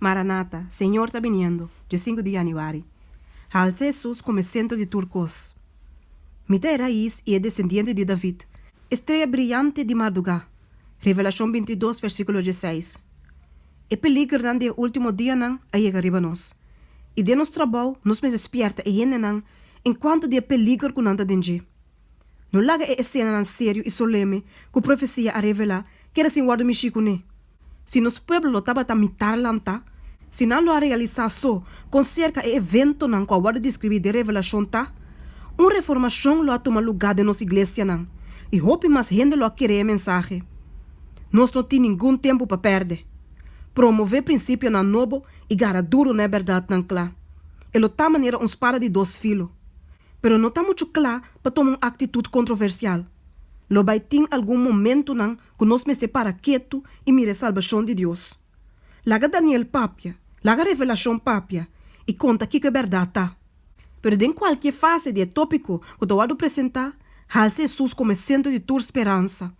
Maranata, Señor ta biniendo, dje sinku di Januari. Halse Hesus kome sentro di tur kos. Mi ta e rais i e desendiente di David, e streya briante di mardugá, Revelashon binti dos versíkulo dje seis. E peligernan di e último dianan a yega riba nos, i den nos trabou nos mester spièrta e hendenan en kuantu di e peliger ku nan ta den dje. No laga e esenanan serio i soleme ku profesia a revelá keda sin wòrdu mishí kuné. Si nos pueblo lo tabata mitar lantá, si nan lo a realisá so kon serka e eventonan ku a wòrdu deskribí den Revelashon ta, un reformashon lo a tuma lugá den nos iglesianan i hopi mas hende lo a kere e mensahe. Nos no tin ningun tempu pa pèrdè. Promové prinsipionan nobo i gara duru na e bèrdatnan kla. E lo ta manera un spada di dos filo. pero no ta muchu cla pa toma un actitud controversial. Lo bay tin algun momentonan cu nos mester para ketu y mira e salbacion di Dios. Laga Daniel papia, laga Revelacion papia y conta kico e berdad ta. Pero den cualkier fase di e topico cu ta wordo presenta, halsa Hesus como e centro di tur speransa,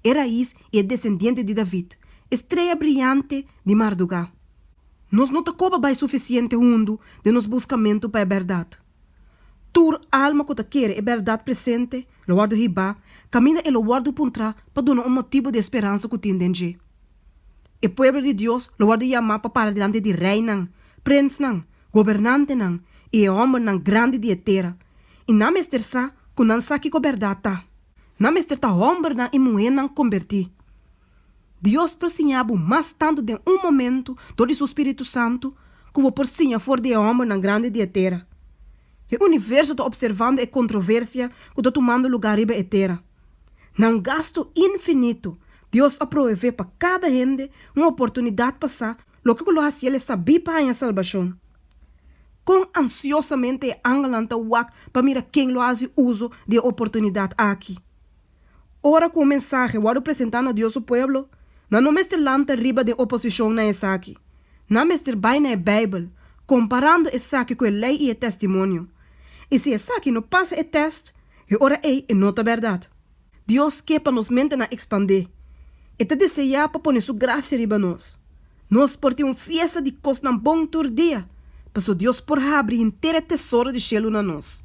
e raiz y e descendiente di David, e streya briante di marduga. Nos no ta coba bay suficiente hundo den nos buscamento pa e berdad. Tur alma ku ta kere e bèrdat presente lo wòrdu hibá, kaminda e lo wòrdu puntrá pa duna un motibu di e speransa ku tin den dje. E pueblo di Dios lo wòrdu yamá pa para dilanti di reinan, prensnan, gobernantenan i e hòmbernan grandi di e tera, i nan mester sa ku nan sa kiko bèrdat ta. Nan mester ta hòmbernan i muhénan kombertí. Dios por siña bo mas tantu den un momentu dor di su Spiritu Santu ku bo por siña for di e hòmbernan grandi di e tera. E universo ta opservando e kontroversia ku ta tumando lugá riba e tera. Na un gastu infinito, Dios a proveé pa kada hende un oportunidat pa sa loke ku lo hasié lei sabí pa haña salbashon. Kon ansiosamente e angelnan ta wak pa mira ken lo hasi uso di e oportunidat aki! Ora ku un mensahe wòrdu presentá na Dios su pueblo, nan no mester lanta riba den oposishon na esaki. Nan mester bai na e Beibel, komparando esaki ku e Lei i e Testimonio. I si esaki no pasa e tèst, e ora ei e no ta bèrdat. Dios ke pa nos mentenan ekspandé. E ta deseá pa pone su grasia riba nos. Nos por tin un fiesta di kosnan bon tur dia, paso Dios por habri henter e tesoro di shelu na nos.